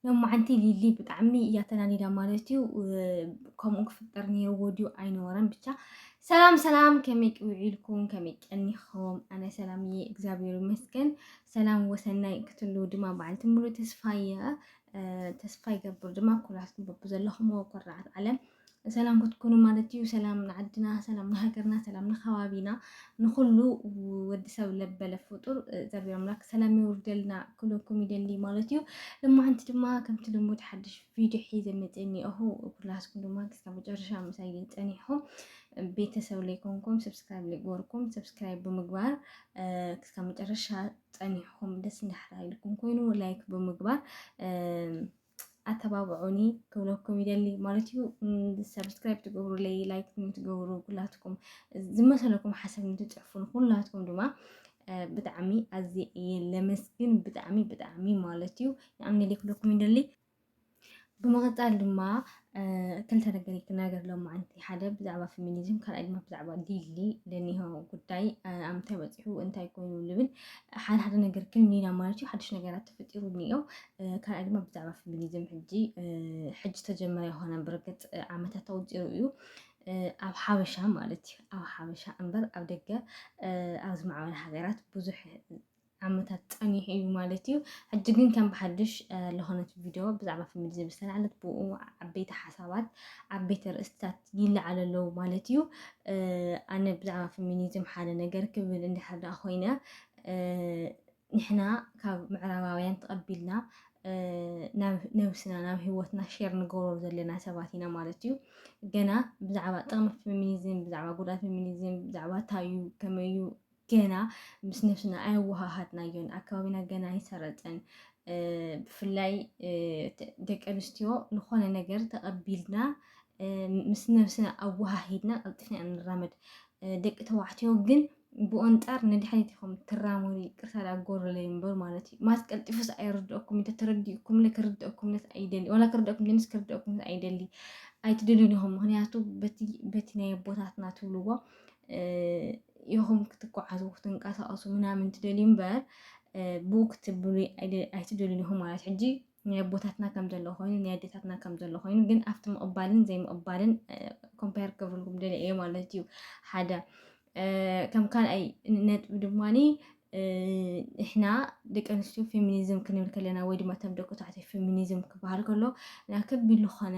ሎማዓንቲ ሊሊ ብጣዕሚ እያ ተናዲዳ ማለት እዩ። ከምኡ ክፍጠር ነይርዎ ድዩ ኣይነበረን ብቻ። ሰላም ሰላም፣ ከመይ ውዒልኩም ከመይ ቀኒኹም? ኣነ ሰላም እየ እግዚኣብሔር ይመስገን። ሰላም ወሰናይ ክትሉ ድማ በዓልቲ ሙሉ ተስፋ እየ። ተስፋ ይገብር ድማ ኩላትኩም በብዘለኹምዎ ኩርዓት ዓለም ሰላም ክትኩኑ ማለት እዩ ሰላም ንዓድና ሰላም ንሃገርና ሰላም ንከባቢና ንኩሉ ወዲ ሰብ ለበለ ፍጡር ዘርቢ ኣምላክ ሰላም ይውርደልና ክለኩም ይደሊ ማለት እዩ ልማዓንቲ ድማ ከምቲ ልሙድ ሓድሽ ቪድዮ ሒዘ መፅእ እኒኦኹ ኩላስኩም ድማ ክስካብ መጨረሻ ምሳይ ፀኒሕኹም ቤተሰብ ላይ ኮንኩም ሰብስክራይብ ላይ ጎርኩም ሰብስክራይብ ብምግባር ክስካብ መጨረሻ ፀኒሕኹም ደስ እንዳሕራ ኢልኩም ኮይኑ ላይክ ብምግባር ኣተባብዑኒ ክብለኩም ይደሊ ማለት እዩ። ሰብስክራይብ ትገብሩለይ ላይክ ትገብሩ ኩላትኩም ዝመሰለኩም ሓሳብ ንትፅሕፉን ኩላትኩም ድማ ብጣዕሚ ኣዝየ እየ ለመስግን ብጣዕሚ ብጣዕሚ ማለት እዩ ንኣምነሊ ክብለኩም ይደሊ ብምቕፃል ድማ ክልተ ነገር እዩ ክናገር ሎማዓንቲ ሓደ ብዛዕባ ፌሚኒዝም ካልኣይ ድማ ብዛዕባ ዲሊ ለኒሆ ጉዳይ ኣብ ምንታይ በፂሑ እንታይ ኮይኑ ልብል ሓደ ሓደ ነገር ክን ኢና ማለት እዩ ሓድሽ ነገራት ተፈጢሩ እኒኦ ካልኣይ ድማ ብዛዕባ ፌሚኒዝም ሕጂ ሕጂ ተጀመረ ይኮነ ብርግፅ ዓመታት ተወፂሩ እዩ ኣብ ሓበሻ ማለት እዩ ኣብ ሓበሻ እምበር ኣብ ደገ ኣብ ዝማዕበለ ሃገራት ብዙሕ ዓመታት ጸኒሑ እዩ ማለት እዩ። ሕጂ ግን ከም ብሓድሽ ዝኾነት ቪድዮ ብዛዕባ ፌሚኒዝም ዝተላዕለት ብኡ ዓበይቲ ሓሳባት ዓበይቲ ርእስትታት ይለዓሉ ኣለዉ ማለት እዩ። ኣነ ብዛዕባ ፌሚኒዝም ሓደ ነገር ክብል እንድሕር ደኣ ኮይነ ንሕና ካብ ምዕራባውያን ተቐቢልና ናብ ነብስና ናብ ሂወትና ሼር ንገብሮ ዘለና ሰባት ኢና ማለት እዩ ገና ብዛዕባ ጥቕሚ ፌሚኒዝም ብዛዕባ ጉድኣት ፌሚኒዝም ብዛዕባ እንታይ እዩ ከመይ እዩ ገና ምስ ነብስና ኣየወሃሃድናዮን፣ ኣብ ከባቢና ገና ኣይሰረጸን፣ ብፍላይ ደቂ ኣንስትዮ ንኾነ ነገር ተቐቢልና ምስ ነብስና ኣወሃሂድና ቀልጢፍና ኢና ንራመድ፣ ደቂ ተባዕትዮ ግን ብኦንጻር ንድሕሪት ኢኹም ትራመዱ ይቅርታ ዳ ጎረለይ እምበር ማለት እዩ ማስ ቀልጢፉስ ኣይርድኦኩም እንተ ተረዲኡኩም ለ ክርድኦኩም ነስ ኣይደሊ ዋላ ክርድኦኩም ደንስ ክርድኦኩም ነስ ኣይደሊ ኣይትደልዩን ኢኹም ምክንያቱ በቲ ናይ ኣቦታትና ትብልዎ ኢኹም ክትጓዓዙ ክትንቀሳቀሱ ምናምን ትደልዩ እምበር ብኡ ክትብሉ ኣይትደልዩን ኢኹም ማለት ሕጂ ናይ ኣቦታትና ከም ዘሎ ኮይኑ ናይ ኣዴታትና ከም ዘሎ ኮይኑ ግን ኣብቲ ምቕባልን ዘይምቕባልን ኮምፓየር ክገብርልኩም ደለ እየ ማለት እዩ ሓደ ከም ካልኣይ ነጥቢ ድማኒ ንሕና ደቂ ኣንስትዮ ፌሚኒዝም ክንብል ከለና ወይ ድማ ተም ደቂ ተባዕትዮ ፌሚኒዝም ክበሃል ከሎ ናብ ከቢድ ዝኾነ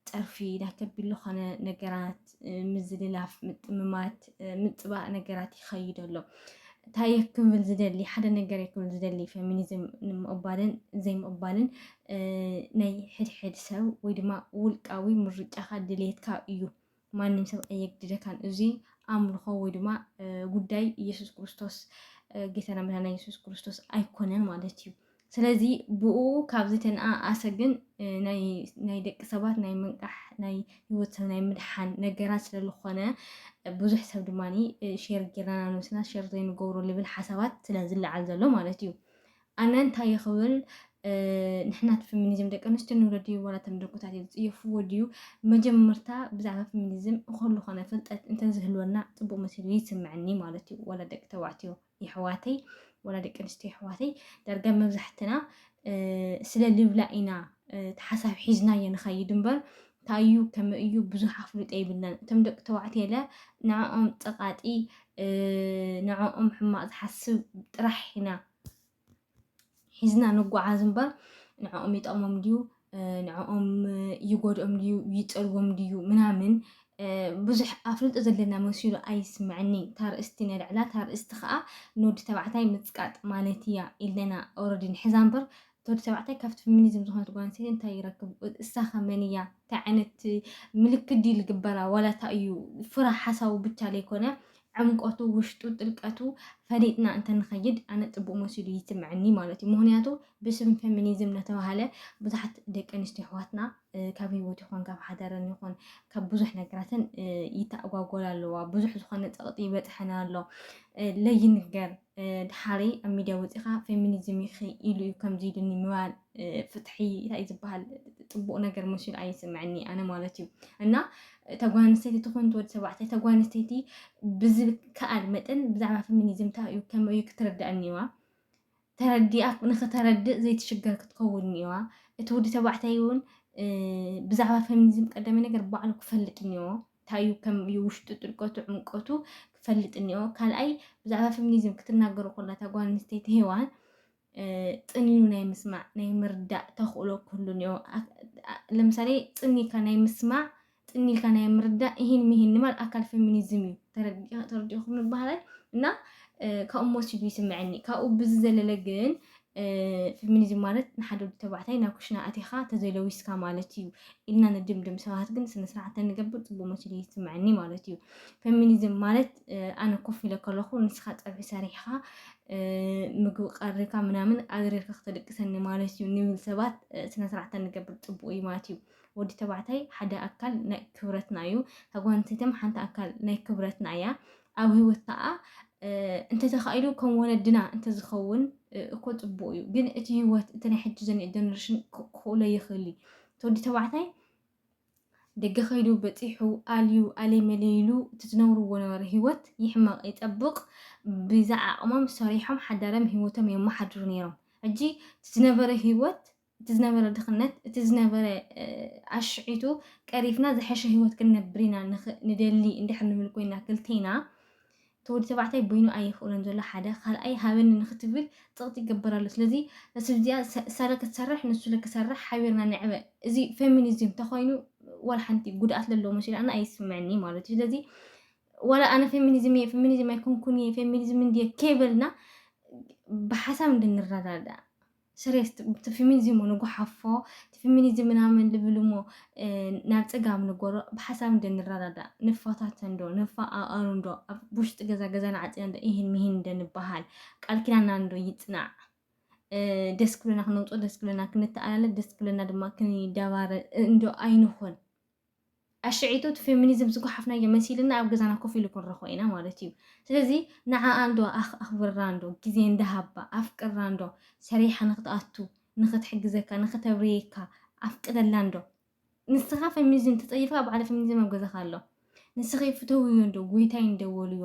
ፀርፊ ዳተቢሉ ኾነ ነገራት ምዝልላፍ፣ ምጥምማት፣ ምፅባእ ነገራት ይኸይድ ኣሎ። እንታይ ክብል ዝደሊ ሓደ ነገር ክብል ዝደሊ ፌሚኒዝም ንምቕባልን ዘይምቕባልን ናይ ሕድሕድ ሰብ ወይ ድማ ውልቃዊ ምርጫኻ ድሌትካ እዩ። ማንም ሰብ ኣየግድደካን እዙይ ኣምልኾ ወይ ድማ ጉዳይ ኢየሱስ ክርስቶስ ጌታና መድኃኒና ኢየሱስ ክርስቶስ ኣይኮነን ማለት እዩ። ስለዚ ብኡ ካብ ዝተነኣኣሰ ግን ናይ ደቂ ሰባት ናይ ምንቃሕ ናይ ህይወት ሰብ ናይ ምድሓን ነገራት ስለ ዝኾነ ብዙሕ ሰብ ድማ ሸር ጌርና ነብስና ሸር ዘይንገብሮ ልብል ሓሳባት ስለ ዝለዓል ዘሎ ማለት እዩ ኣነ እንታይ እየ ክብል ንሕናት ፌሚኒዝም ደቂ ኣንስትዮ ንብሎ ድዩ ዋላ እቶም ደኩታት እዮም ዝፅየፍዎ ድዩ መጀመርታ ብዛዕባ ፌሚኒዝም እኮሉ ኮነ ፍልጠት እንተዝህልወና ፅቡቅ መሲሉ ይስምዐኒ ማለት እዩ ዋላ ደቂ ተባዕትዮ የሕዋተይ ዋላ ደቂ ኣንስትዮ የሕዋተይ ዳርጋ መብዛሕትና ስለ ልብላ ኢና ተሓሳብ ሒዝናዮ ንኸይድ እምበር ታዩ ከመ እዩ ብዙሕ ኣፍልጦ ይብልናን እቶም ደቂ ተባዕትዮ ለ ንዕኦም ፀቃጢ ንዕኦም ሕማቅ ዝሓስብ ጥራሕ ኢና ሒዝና ንጓዓዝ እምበር ንዕኦም ይጠቕሞም ድዩ ንዕኦም ይጎድኦም ድዩ ይፀልዎም ድዩ ምናምን ብዙሕ ኣፍልጦ ዘለና መሲሉ ኣይስምዐኒ ታርእስቲ ነልዕላ ታርእስቲ ከዓ ንወዲ ተባዕታይ ምፅቃጥ ማለት እያ ኢለና ኦረዲ ንሕዛ እምበር እቲ ወዲ ተባዕታይ ካብቲ ፍሚኒዝም ዝኾነት ጓል ኣንስተይቲ እንታይ ይረክብ? እሳኸ መን እያ? እንታይ ዓይነት ምልክት ድዩ ልግበራ? ዋላ እንታይ እዩ? ፍረ ሓሳቡ ብቻ ለይኮነ ዕምቆቱ፣ ውሽጡ፣ ጥልቀቱ ፈሊጥና እንተንኸይድ ኣነ ፅቡቅ መሲሉ ይስምዐኒ ማለት እዩ። ምክንያቱ ብስም ፌሚኒዝም ለተባሃለ ብዙሓት ደቂ ኣንስትዮ ኣሕዋትና ካብ ህይወት ይኹን ካብ ሓደረን ይኹን ካብ ብዙሕ ነገራትን ይተኣጓጎላ ኣለዋ። ብዙሕ ዝኾነ ፀቕጢ ይበፅሐን ኣሎ ለይንገር ድሓሪ ኣብ ሚድያ ወጺኻ ፌሚኒዝም ኢኺ ኢሉ እዩ ከምዚ ኢሉኒ ምባል ፍትሒ እንታይ እዩ ዝበሃል ጽቡቕ ነገር መሲሉ ኣይስምዐኒ ኣነ ማለት እዩ እና እታ ጓል ኣንስተይቲ ትኹን ትወዲ ተባዕታይ እታ ጓል ኣንስተይቲ ብዝከኣል መጠን ብዛዕባ ፌሚኒዝም እንታይ እዩ ከመይ እዩ ክትርዳእ እኒዋ ተረዲኣ ንክተረድእ ዘይትሽገር ክትከውን እኒዋ እቲ ወዲ ተባዕታይ እውን ብዛዕባ ፌሚኒዝም ቀዳሚ ነገር ባዕሉ ክፈልጥ እኒዎ ታዩ ከም እዩ ውሽጡ ጥልቀቱ ዕምቀቱ ክፈልጥ እኒኦ ካልኣይ ብዛዕባ ፌሚኒዝም ክትናገሩ ኮላ እታ ጓል ኣንስተይቲ ሄዋን ጥንዩ ናይ ምስማዕ ናይ ምርዳእ ተኽእሎ ክህሉ እኒኦ ለምሳሌ ጥኒካ ናይ ምስማዕ ጥኒልካ ናይ ምርዳእ ይህን ምሂን ንባል ኣካል ፌሚኒዝም እዩ ተረዲእኹም ንባህላይ እና ካብኡ መሲሉ ይስምዐኒ ካብኡ ብዝዘለለ ግን ፊሚኒዝም ማለት ንሓደ ወዲ ተባዕታይ ናብ ኩሽና ኣቲኻ ተዘይለዊስካ ማለት እዩ ኢልና ንድምድም ሰባት ግን ስነስርዓት ተንገብር ፅቡቅ መሲሉ ይስምዐኒ ማለት እዩ ፌሚኒዝም ማለት ኣነ ኮፍ ኢለ ከለኹ ንስኻ ፀብሒ ሰሪሕኻ ምግቢ ቀሪካ ምናምን ኣድሪርካ ክተደቅሰኒ ማለት እዩ ንብል ሰባት ስነስርዓት ተንገብር ፅቡቅ እዩ ማለት እዩ ወዲ ተባዕታይ ሓደ ኣካል ናይ ክብረትና እዩ ካብ ጓል ኣንስተይትም ሓንቲ ኣካል ናይ ክብረትና እያ ኣብ ህይወት ከዓ እንተተኻኢሉ ከም ወለድና እንተዝኸውን እኮ ፅቡቅ እዩ ግን እቲ ህይወት እቲ ናይ ሕጂ ዘኒኦ ጀነሬሽን ክኽእሎ ይኽእል እዩ ተወዲ ተባዕታይ ደገ ከይዱ በፂሑ ኣልዩ ኣልይ መለይሉ እቲ ዝነብርዎ ነበረ ህይወት ይሕመቕ ይፀብቕ ብዛ ዓቕሞም ሰሪሖም ሓዳርም ህይወቶም የመሓድሩ ነይሮም ሕጂ እቲ ዝነበረ ህይወት እቲ ዝነበረ ድኽነት፣ እቲ ዝነበረ ኣሽሒቱ ቀሪፍና ዝሐሸ ህይወት ክንነብር ኢና ንደሊ እንድሕር ንብል ኮይና ክልቴና እቲ ወዲ ተባዕታይ በይኑ ኣይኽእሎን ዘሎ ሓደ ካልኣይ ሃበኒ ንክትብል ፅቕጢ ይገበር ኣሎ ስለዚ ስልዚኣ ሳለ ክትሰርሕ ንሱለ ክሰርሕ ሓቢርና ንዕበ እዚ ፌሚኒዝም ተኮይኑ ዋላ ሓንቲ ጉድኣት ዘለዎ መሲሉ ኣነ ኣይስምዐኒ ማለት እዩ ስለዚ ዋላ ኣነ ፌሚኒዝም እየ ፌሚኒዝም ኣይኮንኩን እየ ፌሚኒዝም እንድየ ከይበልና ብሓሳብ እንድንረዳዳእ ስሬስ ትፍሚኒዝሙ ንጉሓፎ ትፍሚኒዝም ምናምን ልብልሞ ናብ ጽጋብ ንጎሮ ብሓሳብ እንደ ንረዳዳእ ንፋታተ እንዶ ንፋኣኣሩ እንዶ ኣብ ውሽጢ ገዛ ገዛና ዓጺና እንዶ ኢሂን ምሂን እንደ ንባሃል ቃል ኪዳና እንዶ ይጽናዕ ደስ ክብለና ክነውጽኦ ደስ ክብለና ክንተኣላለ ደስ ክብለና ድማ ክንደባረ እንዶ ኣይንኹን ኣሸዒቱ እቲ ፌሚኒዝም ዝጓሓፍናዮ መሲልና ኣብ ገዛና ኮፍ ኢሉ ክንረኽቦ ኢና ማለት እዩ። ስለዚ ንዓኣ እንዶ ኣኽብራ እንዶ ግዜ እንዳ ሃባ ኣፍቅራ እንዶ ሰሪሓ ንኽትኣቱ ንኽትሕግዘካ ንኽተብርየካ ኣፍቅደላ እንዶ። ንስኻ ፌሚኒዝም ተጸይፍካ ባዕለ ፌሚኒዝም ኣብ ገዛኻ ኣሎ። ንስኺ ፍተውዮ እንዶ ጎይታይ እንዶ በልዮ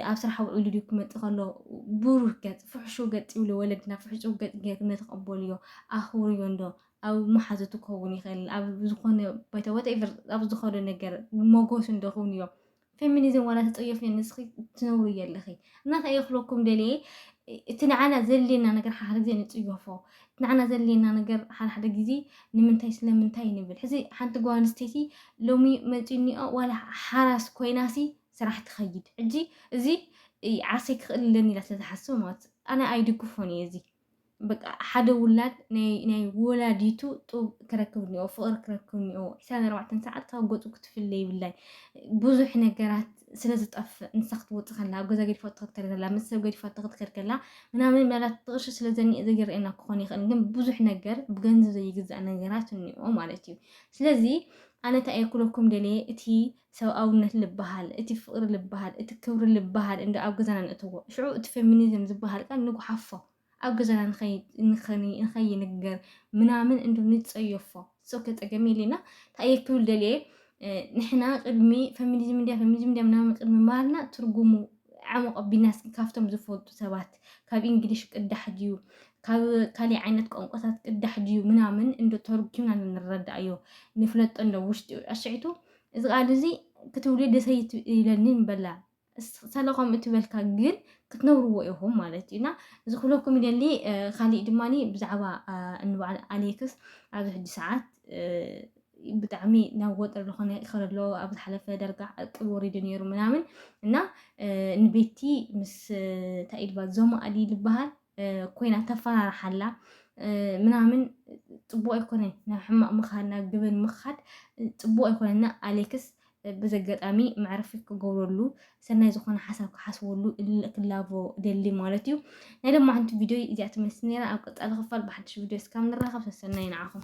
ኣብ ስራሕ ውዒሉ ድዩ ክመጽእ ከሎ ብሩህ ገጽ ፍሕሹው ገጽ ይብሉ ወለድና ፍሕሹው ገጽ ጌርኩም እንዶ ተቐበልዮ ኣኽብርዮ እንዶ ኣብ መሓዙቱ ክኸውን ይኽእል፣ ኣብ ዝኾነ ባይታ whatever ኣብ ዝኸዶ ነገር ሞጎሱ እንዶ ክውን እዮ። ፌሚኒዝም ዋላ ተጸየፍዮ ንስኺ ትነብርዮ ኣለኺ። እና ከየ ክብለኩም ደልየ እቲ ንዓና ዘድልየና ነገር ሓሓደ ግዜ ንጽየፎ። እቲ ንዓና ዘድልየና ነገር ሓሓደ ግዜ ንምንታይ ስለምንታይ ንብል። ሕዚ ሓንቲ ጓል ኣንስተይቲ ሎሚ መጺኡኒኦ ዋላ ሓራስ ኮይናሲ ስራሕ ትኸይድ። ሕጂ እዚ ዓርሰይ ክኽእል ኣለኒ ኢላ ስለ ዝሓስብ ማለት ኣነ ኣይድግፎን እየ እዚ። በቃ ሓደ ውላድ ናይ ወላዲቱ ጡብ ክረክብ እኒኦ ፍቕሪ ክረክብ እኒኦ ዕስራን ኣርባዕተን ሰዓት ካብ ገፁ ክትፍለ ይብላይ ብዙሕ ነገራት ስለ ዝጠፍእ ንሳ ክትወፅእ ከላ ኣብ ገዛ ገዲፋ ትኸድ ከላ ምስ ሰብ ገዲፋ ትኸድ ከላ ምናምን መላት ጥቕርሺ ስለ ዘኒኤ ዘይረአየና ክኾን ይኽእል ግን ብዙሕ ነገር ብገንዘብ ዘይግዛእ ነገራት እኒኦ ማለት እዩ ስለዚ ኣነ እንታይ እየ ክብለኩም ደልየ እቲ ሰብኣውነት ልበሃል፣ እቲ ፍቕሪ ልበሃል፣ እቲ ክብሪ ልበሃል እንዶ ኣብ ገዛና ነእትዎ። ሽዑ እቲ ፌሚኒዝም ዝበሃል ቃል ንጉሓፎ። ኣብ ገዛና ንኸይንገር ምናምን እንዶ ንጸየፎ። It's ok ጸገም የልየና። እንታይ እየ ክብል ደልየ፣ ንሕና ቅድሚ ፌሚኒዝም እንድያ ፌሚኒዝም እንድያ ምናምን ቅድሚ ምባልና ትርጉሙ ዓሙቕ ኣቢልና እስኪ ካብቶም ዝፈልጡ ሰባት ካብ እንግሊሽ ቅዳሕ ድዩ ካብ ካሊእ ዓይነት ቋንቋታት ቅዳሕ ድዩ ምናምን እንዶ ተርኪብና ንረዳእዮ ንፍለጦ እንዶ ውሽጢ ኣሸዒቱ እዚ ቃል እዚ ክትብሊ ደሰይ ኢለኒ በላ ሰለ ከምኡ ትበልካ ግን ክትነብርዎ ኢኹም ማለት እዩ እና እዚ ክብለኩም ይደሊ ካሊእ ድማ ብዛዕባ እንበዓል ኣሌክስ ኣብዚ ሕጂ ሰዓት ብጣዕሚ ናብ ወጥሪ ዝኾነ ይኸረ ኣሎ ኣብ ዝሓለፈ ደርጋ ዕቅብ ወሪዱ ነይሩ ምናምን እና ንቤቲ ምስ ታኢድባ ዞማኣሊ ዝበሃል ኮይና ተፈራርሓላ ምናምን ፅቡቅ ኣይኮነን። ናብ ሕማቅ ምኻድ ናብ ግብን ምኻድ ፅቡቅ ኣይኮነና። ኣሌክስ በዚ ኣጋጣሚ መዕረፊ ክገብረሉ ሰናይ ዝኾነ ሓሳብ ክሓስበሉ ክላቦ ደሊ ማለት እዩ። ናይ ሎማዓንቲ ቪድዮ እዚኣ ትመስል ነራ። ኣብ ቀፃሊ ክፋል ብሓድሽ ቪድዮ እስካብ ንራኸብ ሰሰናይ ንዓኹም።